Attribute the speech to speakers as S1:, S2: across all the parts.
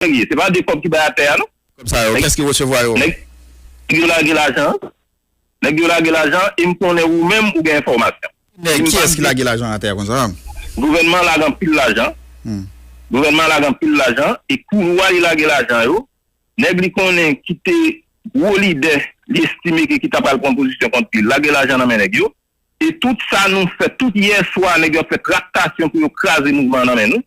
S1: Nèg ye. Se pa de kòb ki bay atè a non. Kòb sa yo, kès ki resevwa
S2: yo? Nèg
S1: yo lage lajan an. Nèg yo lage lajan an e m konnen ou menm ou gen enfòmasyon. Ki nèg, kiyès ki lage
S2: lajan atè konsa a? Gouvènman an lage
S1: anpil lajan. Gouvènman an lage anpil lajan e kouloua li lage lajan yo, nèg li konnen ki te gwo lidè li estime ke ki ta pral pran pozisyon kont li lage lajan nan men nèg yo. E tout sa nou fè, tout yè swa nèg yo ap fè traktasyon pou yo kraze mouvman an nan men nou.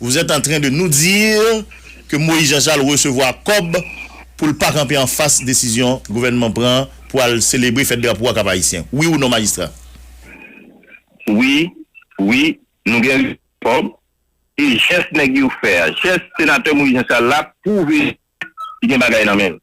S3: Vous êtes en train de nous dire que Moïse Jean Charles resevwa kòb pou l pa kanpe anfas desizyon gouvènman pran pou al selebre fèt drapo a Kap Ayisyen. Wi ou non majistra?
S1: Wi, wi, nou gen rezon kòb e jès nèg yo fè a, jès senatè Moïse Jean Charles la pwouve li gen bagay nan men l.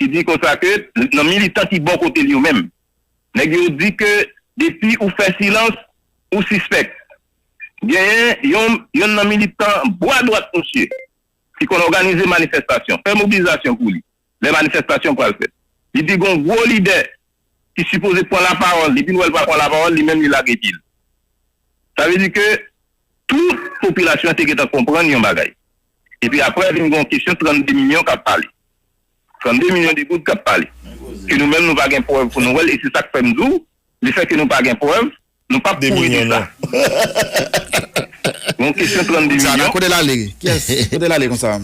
S1: Li di konsa ke nan militan ki bò kote l yo menm, nèg yo di ke depi ou fè silans, ou sispèk. Genyen yon yonn nan militan bwa dwat misye ki konn òganize manifestasyon, fè mobilizasyon pou li lè manifestasyon pral fèt. Li di gon gwo lidè ki sipoze pran lapawòl, depi l wè l pa pran lapawòl, li menm li lage di l. Sa vle di ke tout popilasyon an te gentan konprann yon bagay. Epi aprè vin gen yon kesyon 32 milyon kap pale. 32 milyon de goud kap pale. Ke nou menm nou pa gen prèv pou nou wèl e se sak fèm di w le fè ke nou pa gen prèv nou pap kouri di sa. Gen yon kesyon 32 milyon. Zara kote lale?
S2: Kiyès? Kote lale konsa?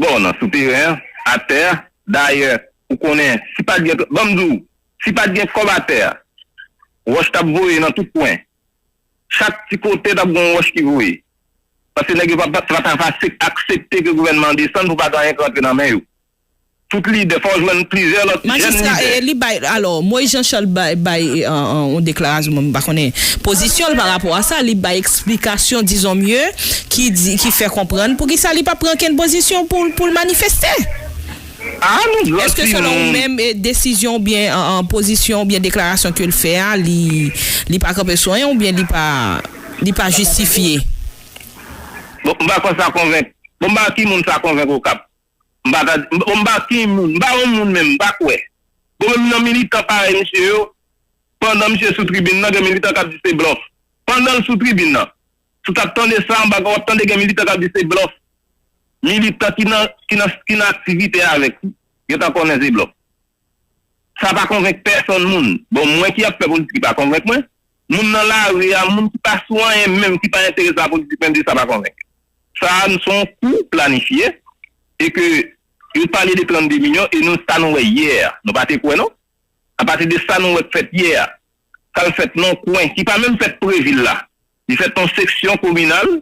S1: Bon nan sou teren an, atè a, dayè ou konnen si pat gen, banm di w, si pat gen kòb atè a, wòch tap voye nan tout kwen. Chak ti kote t ap gen yon wòch ki voye. Paske nèg yo pa pa ta va aksepte ke gouvènman an desann pou pa gen anyen k rantre nan men yo. Tout lidè, fò w jwenn plizyè lòt jèn lidè. Majistra, li bay,
S4: alò, Moïse Jean Charles bay, bay yon deklarasyon, bon m pa konnen pozisyon l pa rapò a sa, li bay eksplikasyon dizon mye ki di, ki fè konprann poukisa li pa pran kenn pozisyon pou l, pou l manifeste. Aa nou grandi nou. Eske selon ou menm desizyon ou byen pozisyon ou byen deklarasyon ke l fè a li li pa kanpe sou anyen ou byen li pa li pa jistifye?
S1: Bon m pa kwè sa konvenk bon m pa wè ki moun sa konvenk okap m pa ta di bon m pa ki moun m pa yon moun menm m pa kwè bon menm nan militan parèy misye yo pandan misye sou tribin nan gen militan k ap di se blòf pandan l sou tribin nan Tout ap tande sa anba wap tande gen militan kap di se blòf militan ki nan ki nan ki nan aktivite avèk li gentan konnen se blòf sa pa konvenk pèsonn moun bon mwen ki ap fè politik li pa konvenk mwen moun nan lari a moun ki pa sou anyen menm ki pa enterese a politik menm li sa pa konvenk sa a son kou planifye e ke yo pale de 32 milyon e nou sa nou wè yè a nou pa te kwè non apati de sa nou wè k fèt yè a. sa l fèt nan kwen ki pa menm fèt pre vil la. Li fèt nan seksyon kominal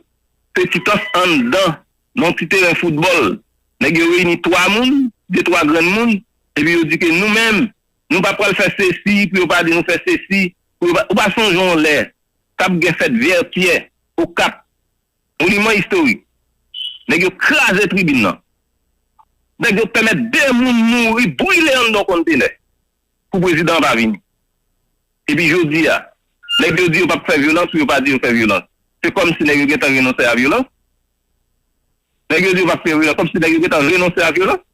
S1: Petitans anndan nan ti teren foutbòl. Nèg yo reyini twa moun, de twa grenn moun, epi yo di ke nou menm, nou pa pral fè sesi pou yo pa di nou fè sesi, pou yo pa Ou pa sonje yon lè t ap gen fèt Vètyè, Okap, Moniman Istorik, nèg yo kraze tribin nan. Nèg yo pèmèt de moun mouri brile anndan yon kontenè. pou prezidan an pa vini. Epi jodi a, nèg yo di yo pap fè vyolans pou yo pa di yo fè vyolans. Se kòm si nèg yo gentan renonse a vyolans? Nèg yo di yo pap fè vyolans, kòm si nèg yo gentan renonse a vyolans?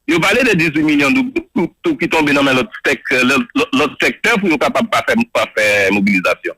S1: Yo pale de 18 milyon doub tou ki tonbe nan men lòt sèk, lòt sèktè pou yo kapab pa fè mobilizasyon.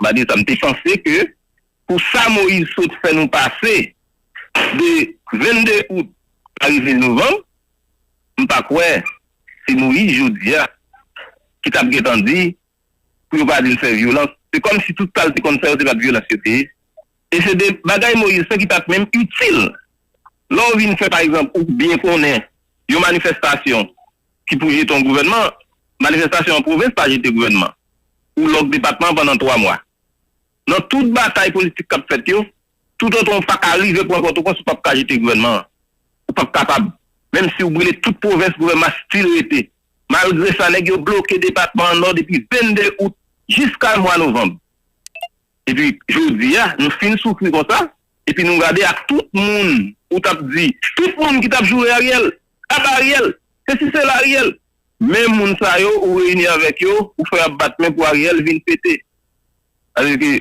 S1: Malgre sa, m te panse ke pou sa Moïse sot fè nou pase de 22 out a rive novanm, m pa kwè se Moïse jodi a ki t ap gen tan di pou yo pa vin fè vyolans. Se kòm si tout sa l te konn fè yo se pa t vyolans yo te ye. E se de bagay Moïse fè ki pa t menm itil. Lè w vin fè pa egzanp ou byen konnen yon manifestasyon ki pou jete yon gouvènman, manifestasyon an pwovens pa jete gouvènman, ou lòk depatman an pandan 3 mwa. Nan tout batay politik k ap fèt yo, toutotan ou pa ka rive pran Pòtoprens ou p ap ka jete gouvènman an. Ou p ap kapab. Menm si ou brile tout pwovens gouvènman an stil rete. Malgre sa nèg yo bloke depatman an Nò depi 22 out jiska mwa novanm. Epi jodi a nou fin soufri konsa, Epi nou gade ak tout moun ou tap di tout moun ki tap joure ariel aba ariel sesi sela ariel menm moun sa yo ou reyini avek yo ou fè yap bat men pou ariel vin pete Ariel ki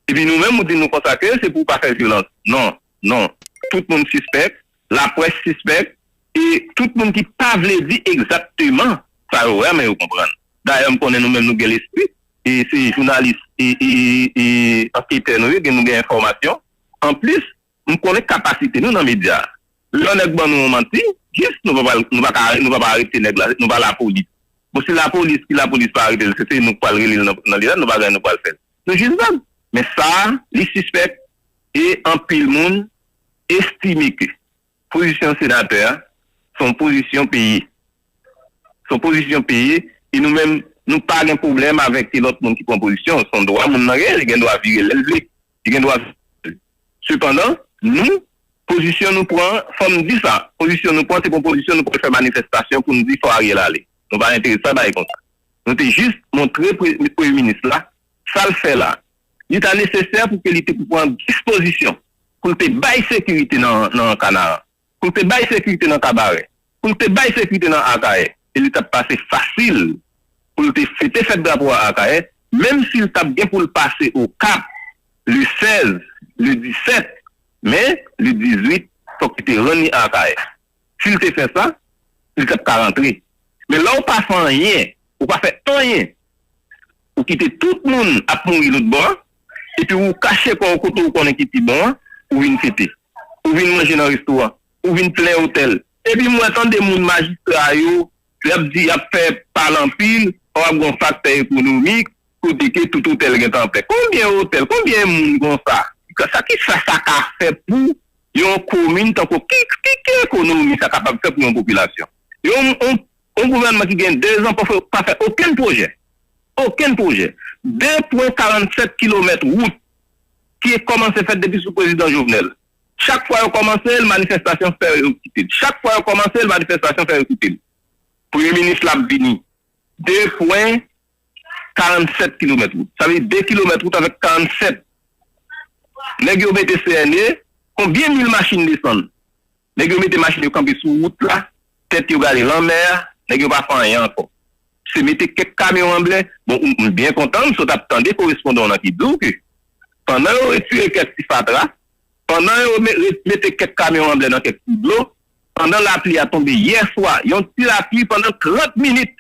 S1: epi nou menm ou di nou konsa ke se pou ou pa fè vyolans non non tout moun sispèk Laprès sispèk e tout moun ki pa vle di egzatteman sa yo wè men yo konprann. Dayè m konnen nou menm nou gen lespri e se jounalis e anketè nou ye gen nou gen enfòmasyon. Anplis m konnen kapasite nou nan medya. Lè yon nèg ban nou yon manti jis nou pa pral nou pa ka nou pa pa arete nèg la nou pa lapolis. Bon si lapolis ki lapolis pa arete l se se nou k pral rele l nan li la nou pa gen nou pral fè l. Nou jis vag. Men sa li sispèk e anpil moun estime ke pozisyon senatè a se yon pozisyon peye. Se yon pozisyon peye e nou menm nou pa gen pwoblèm avèk ke lòt moun ki pran pozisyon. Se yon dwa moun nan gen, li gen dwa vire lè l vle. Li gen dwa vire. Sepandan, nou, pozisyon nou pran, fò m di sa, pozisyon nou pran se pa yon pozisyon nou pral fè manifestasyon pou nou di fò Ariel ale. Nou pa enterese a bagay konsa. Nou te jis montre Premye Minis la sa l fè la li ta nesesè pou ke li te pran dispozisyon pou l te bay sekirite nan Kanaran, pou l te bay sekirite nan Kabarè, pou l te bay sekirite nan Akayè, e li t ap pase fasil pou l te fete fèt drapo a Akayè, menm si l t ap gen pou l pase Okap le 16, le 17, men le 18 fòk li te rann li Akayè. Si l te fè sa, li t ap ka rantre. Men lè w pa fè anyen, ou pa fè anyen, ou kite tout moun ap mouri lotbò a, epi ou kache kò w kote ou konnen ki pi bon an, ou vin fete. Ou vin manje nan restoran. Ou vin plen otèl. Epi m wè tande moun majistra yo Lè ap di yap fè pal anpil fò ap gon faktè ekonomik kote ke tout otèl gentan plen konbyen otèl konbyen moun konsa sa kisa sa ka fè pou yon komin tankou ki ki ekonomi sa kapab fè pou yon popilasyon yon yon gouvènman ki gen 2 zan pa fè okenn pwojè okenn pwojè 2 pwen 47 kilomèt wout ki kòmanse fèt depi sou prezidan Jovenel. Chak fwa yo kòmanse l, manifestasyon fè yo kite l. Chak fwa yo kòmanse l, manifestasyon fè yo kite l. Premye minis la ap vini. 2 pwen 47 kilomèt wout. Sa vle di 2 kilomèt wout avèk 47. Nèg yo mete CNE, konbyen mil machin desann? Nèg yo mete machin yo kanpe sou wout la, Tèt yo gale lanmè a, nèg yo pa fè anyen ankò. Se mete kèk kamyon an ble. Bon, m byen kontan m sot ap tande korespondan w lan ki di w ke pandan yo retire kèk ti fatra, pandan yo mete kèk kamyon an ble nan kèk ti dlo, pandan lapli a tonbe yè swa, yon ti lapli pandan 30 minit,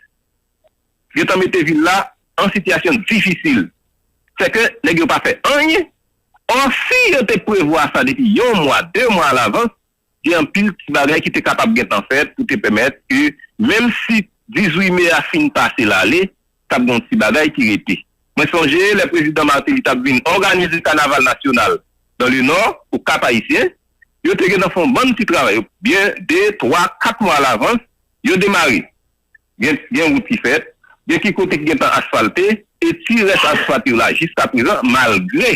S1: gen tan mete vil la an sitiyasyon difisil. Sèke nèg yo pa fè anyen. Ò, si yo te prevwa sa depi yon mwa, de mwa alavans, Gen anpil ti bagay ki te kapab gentan fèt pou te pèmèt ke menm si 18 me a fin pase l ale, t ap gen yon ti bagay ki rete. Mwen sonje lè Prezidan Martelly t ap vin òganize kanaval nasyonal dans le Nord, au Cap Haïtien, yo te gentan fè yon bann ti travay, byen de, twa, kat mwa alavans, yo demare. Gen gen wout ki fèt, gen ki kote ki gentan asfalte, e ti rès asfalt yo la jiskaprezan, malgre.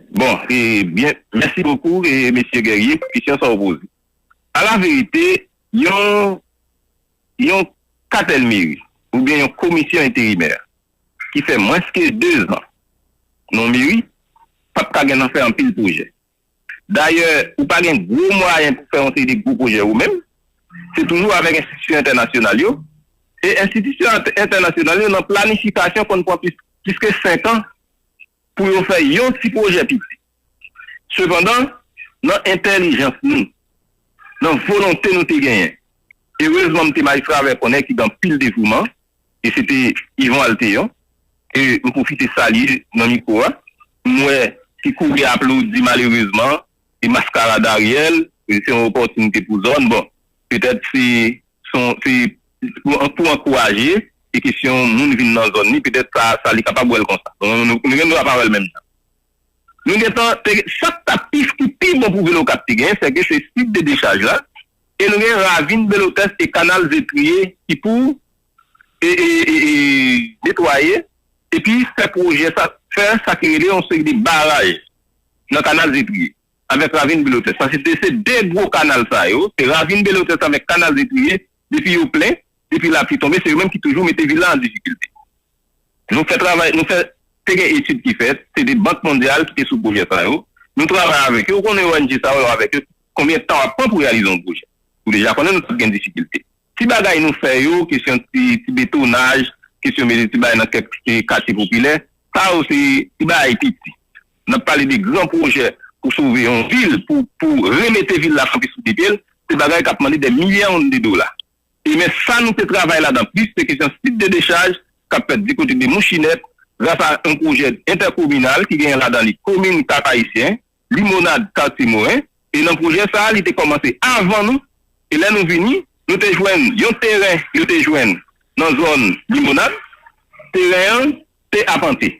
S2: Bon
S1: e byen mèsi bokou e mesye Guerrier pou kesyon sa ou poze. A la verite yon yon katèl meri ou byen yon komisyon enterimè ki fè mwens ke 2 zan nan yon meri pa p ka gen nan fè anpil pwojè. Dayè ou pa gen gwo mwayen pou fè yon seri de gwo pwojè ou menm, se toujou avèk enstitisyon entènasyonal yo e enstitisyon entènasyonal yo nan planifikasyon konn pran plis ke 5 an. pou yo fè yon ti pwojè piti. Sepandan, nan entèlijans nou, nan volonte nou te genyen, erezman m te bay Travè konnen ki gen anpil devouman, e se te Yvon Altéon, ke m pwofite salye nan mikwo a, m wè ki kouri aplodi malerezman, e maskarad Ariel, se yon opòtinite pou zòn, bon, petèt se. Se pou ankouraje se kesyon moun vin nan zòn li petèt sa sa li kapab wè l konsa. Nou gen dwa pa wè l menm jan. Nou gen tan te gen sa k ta pi ki pi bon pou vil Okap te gen sèke se sit de dechaj la e nou gen ravin Belotès e kanal Zetriye ki pou e netwaye epi fè pwojè sa fè sa ki rele yon seri de baraj nan kanal Zetriye. avèk Ravin Belotès. Paske de se de gwo kanal sa yo, se Ravin Belotès avèk Kanal de Triye, depi yo plen, depi lapli tonbe, se yo menm ki toujou mete vil la an difikilte. Nou fè travay, nou fè, te gen etid ki fèt, se de Bank Mondyal ki te sou pwojè sa yo. Nou travay avèk yo, ou konnen ong sa yo avèk yo, konbyen tan ap pran pou reyalize yon pwojè. Ou deja konnen nou t ap gen difikilte. Ti bagay nou fè yo, kesyon ti, ti betonaj, kesyon mete ti bagay nan kèk katye popilè, sa yo se ti bagay piti. N ap pale de gran pwojè pou sove yon vil, pou remete vil la kanpe sou de pye l. Se bagay k ap mande dè milyon de dola. E men sa nou te travay ladan plis, se kesyon sit de dechaj k ap fèt dikote de Mouchinèt gras a yon pwojè entèkominal ki genyen ladan li komin Kap-Ayisyen, Limonad, Katye Moren. E nan pwojè sa a, li te kòmanse avan nou. E lè nou vini, nou te jwenn yon teren yo te jwenn nan zòn Limonad. Teren an. te apante.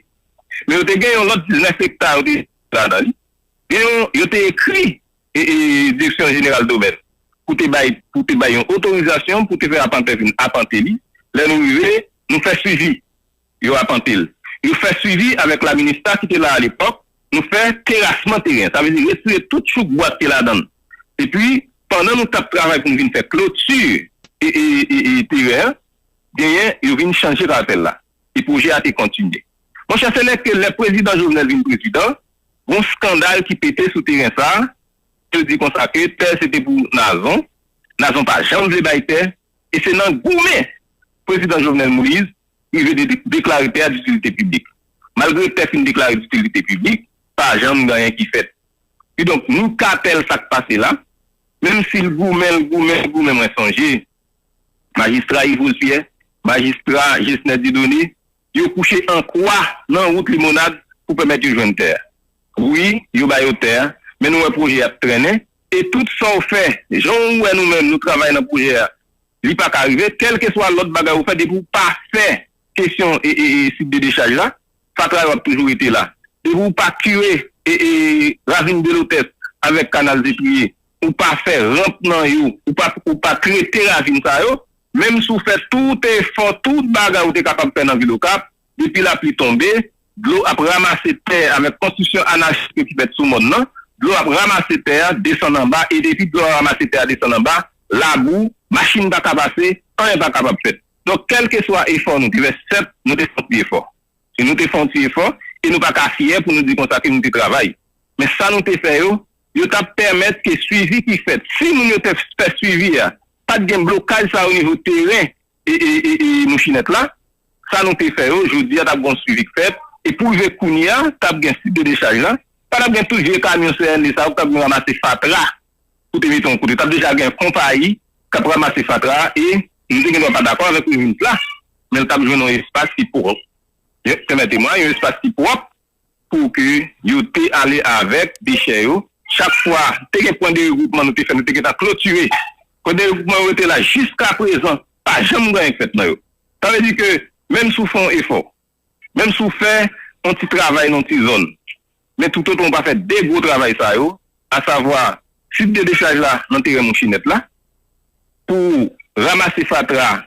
S1: Men yo te gen yon lòt 19 ekta yo te enskri ladan li. Gen yon yo te ekri Direksyon Jeneral Domèn pou te bay pou te bay yon otorizasyon pou te fè apantè vin apante li. Lè nou rive, nou fè swivi. Yo apante l. Yo fè swivi avèk la minista ki te la alepòk. Nou fè terasman teren. Sa vle di retire tout chouk bwa ki te ladan l. Epi, pandan nou t ap travay pou nou vin fè kloti teren an, genyen yo vin chanje parasèl la. e pwojè a te kontinye. Monchè se lè ke lè Prezidan Jovenel vin Prezidan, gon skandal ki pete sou teren sa, yo di konsa ke tè se te pou Nazon, Nazon pa janm vle bay tè, e se nan goumen Prezidan Jovenel Moise rive de deklare tè a ditilite piblik. Malgre tè fin deklare ditilite piblik, pa janm gen anyen ki fèt. Kidonk nou ka tèl sa k pase la, menm si l goumen, l goumen, l goumen mwen sonje Majistra Yvrose Pierre, Majistra Gesner Dieudonné, yo kouche an kwa nan wout Limonad pou pèmèt yo jwenn tè a. Wi, yo ba yo tè a, men nou wè pwojè a ap trennen, e tout sa w fè, jan ou wè nou menm nou travay nan pwojè a, li pa ka rive, kèlkeswa lòt bagay ou fè, depi w pa fè kesyon sit de dechaj la, fatra yo ap toujou rete la. Depi w pa kire ravin Delotès avèk kanal Zepriye, ou pa fè ranp nan yo, ou pa ou pa trete ravin sa yo, menm si w fè tout efò, tout bagay ou te kapab fè nan vil Okap, depi lapli tonbe, dlo ap ramase tè a avèk konstriksyon anachik yo ki fèt sou mòn nan, dlo ap ramase tè a desann anba e depi dlo a ramase tè a desann anba, labou, machin pa ka pase, anyen pa kapab fèt. Donk kèlkeswa efò nou te fè, sèt nou te fè yon ti efò. Si nou te fè yon ti efò e nou pa ka fyè pou nou di konsa ke nou te travay. Men sa nou te fè yo, Yo t ap pèmèt ke swivi ki fèt, si moun yo te fè swivi a, pa t gen blokaj sa onivo teren Mouchinette la. Sa nou te fè yo, jodi a t ap gen yon swivi k fèt. E pou rive kounye a, t ap gen sit de dechaj la. Pa t ap gen tout vye kamyon CNE sa yo k t ap vin ramase fatra pou te mete yon kote. T ap deja gen konpayi k ap ramase fatra a. E m te gen dwa pa dakò avèk minis la, men l t ap jwenn yon espas ki pwòp. Pèmète mwa, yon espas ki pwòp pou ke yo te ale avèk dechè yo, chak fwa te gen pwen de regwoupman nou te fè nou te gentan klotire pwen de regwoupman yo rete la jiska prezan pa janm gen anyen k fèt nan yo sa vle di ke menm si w fè yon efò menm si w fè yon ti travay nan yon ti zòn men toutotan ou pa fè 2 gwo travay sa yo asavwa site de dechaj la nan teren mouchinèt la pou w ramase fatra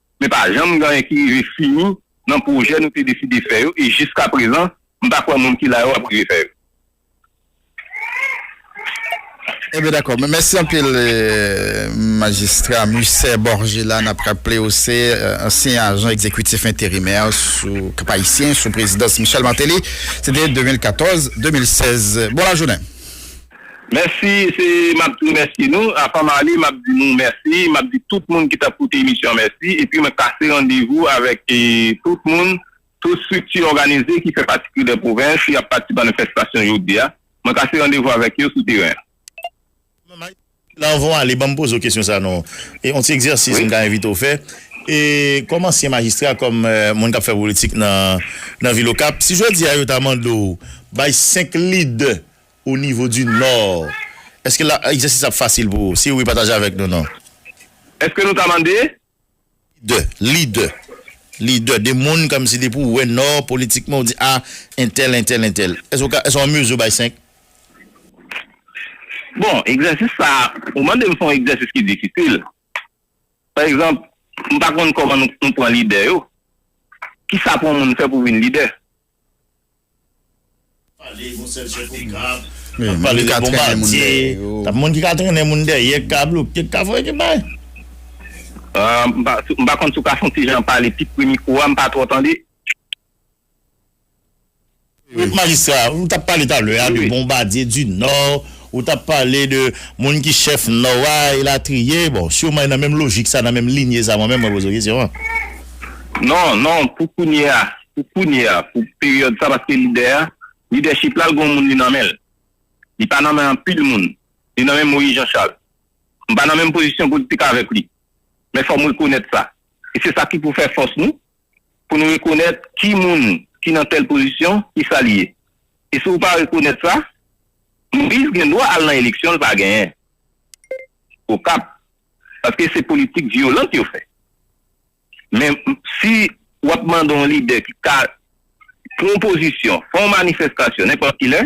S1: Men pa janm gen anyen ki rive fini nan pwojè nou te deside fè yo e jiskaprezan m pa kwè moun ki la yo ap rive fè yo.
S2: Ebyen dakò. Mèsi anpil Majistra Musset Borgella. N ap raple ou se ansyen ajan egzekitif enterimè sou Kap Ayisyen sou prezidans Michel Martelly. Se te 2014, 2016. Bon lajounen. Mèsi
S1: se map di remèsye nou avan male map di nou mèsi map di tout moun ki tap koute emisyon an mèsi epi mwen kase randevou avèk tout moun tout strikti òganize ki fè pati kri dè pwovens ki ap pati manifestasyon jodia mwen kase randevou avèk yo sou teren an. Mwen
S3: Mike la anvan w ale banm poze w kesyon sa non e on ti egzèsis m ta envite w fè e kòm ansyen majistra kòm moun kap fè politik nan vil okap si jodia yo ta mande w bay 5 lidè Au niveau du nord. Eske la egzèsis la ap fasil pou ou? Si wi pataje avèk nou nan. Eske nou
S1: ta mande? Lidè, lidè,
S3: lidè de moun kòmsi depi ou wè nò politikman ou di a entèl, entèl, entèl. Eske ou ka, eske ou an mezi ou bay 5?
S1: Bon, egzèsis sa a, ou mande m se yon egzèsis ki difisil. Pa egzanp, m pa konn kòman nou pran lidè yo. Kisa pou yon moun fè pou vin lidè? Pale gon sèl chèf
S3: ou kap ap pale de bonbadye tap moun ki ka trennen moun dèyè ki ka bloke ki ka fè ki bay.
S1: M pa konn si w ka fè yon ti jan pale pi pre mikwo a, m pa twò tande.
S3: Wi majistra, ou tap pale talè a de bonbadye di nò, ou tap pale de moun ki chèf nò a elatriye, bon siman e nan menm lojik sa nan menm linye sa mwen menm mwen poze w kesyon an. Non,
S1: non, pou kounye a, Pou kounye a, pou peryòd sa paske lidè a, lidèchip la l gon moun li nan men l. Li pa nan men anpil moun. Li nan men Moyiz Janchal. M pa nan menm pozisyon politik avèk li. Men fò m rekonèt sa. E se sa ki pou fè fòs nou, pou nou rekonèt ki moun ki nan tèl pozisyon, ki sa li ye. E si w pa rekonèt sa, Moyiz gen dwa al nan eleksyon l pa genyen. Okap. Paske se politik vyolant yo fè. Men, si w ap mande yon lidè ki ka pran yon pozisyon, fè yon manifestasyon nenpòt ki lè,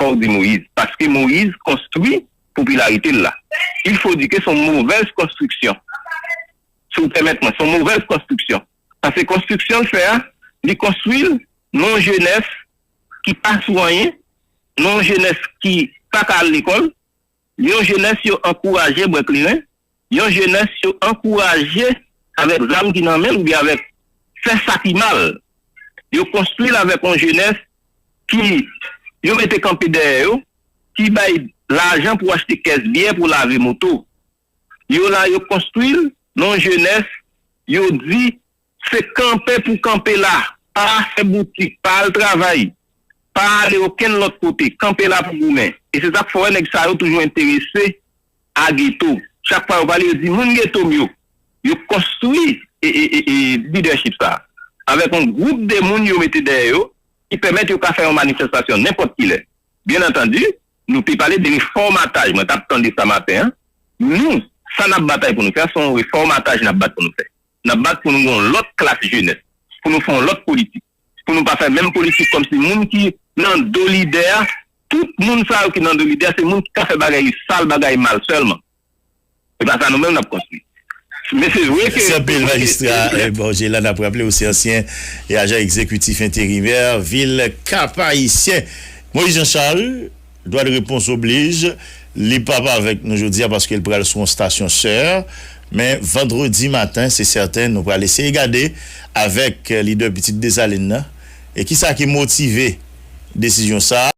S1: fò w di Moïse. Paske Moïse konstwi popilarite l la. Il faut dire que son movèz konstriksyon. Si w pèmèt mwen, son movèz konstriksyon. Paske konstriksyon l fè a, li konstwi l nan yon jenès ki pa sou anyen, nan yon jenès ki pa ka al lekòl. Yon jenès yo ankouraje bwè kleren, yon jenès yo ankouraje avèk zam ki nan men l oubyen avèk fè sa ki mal. Yo konstwi l avèk yon jenès ki yo mete kanpe dèyè yo, ki bay lajan pou achte kès byè pou lave moto. Yo la yo konstwi l nan yon jenès yo di Se kanpe pou kanpe la. Pa fè boutik, pa al travay, pa ale okenn lòt kote. Kanpe la pou goumen. E se sa k fè w wè nèg sa yo toujou enterese a geto. Chak fwa yo pale, yo di moun geto m yo. Yo konstwi lidèchip sa a avèk yon gwoup de moun yo mete dèyè yo ki pèmèt yo ka fè yon manifestasyon nenpòt ki lè. Byen antandi, nou te pale de refòmataj. Mwen t ap tande sa maten an. Nou, sa n ap batay pou nou fè a, se yon refòmataj n ap bat pou nou fè. N ap bat pou nou gen yon lòt klas jenès, pou nou fè yon lòt politik, pou nou pa fè menm politik kòmsi moun ki nan do lidè a, tout moun sa yo ki nan do lidè a se moun ki ka fè bagay sal, bagay mal sèlman. Se pa sa nou menm n ap konstwi. Men se vre ke. Mèsi anpil Majistra
S3: Borgé la. N ap raple ou se ansyen Ajan Egzekitif Enterimè vil Kap-Ayisyen. Moïse Jean Charles. Dwad repons oblij, li p ap avèk nou jodi a paske l pral sou yon stasyon sè, men vandredi maten se sèten nou pral eseye gade avèk lidè Pitit Desalin nan e kisa ki motive desizyon sa.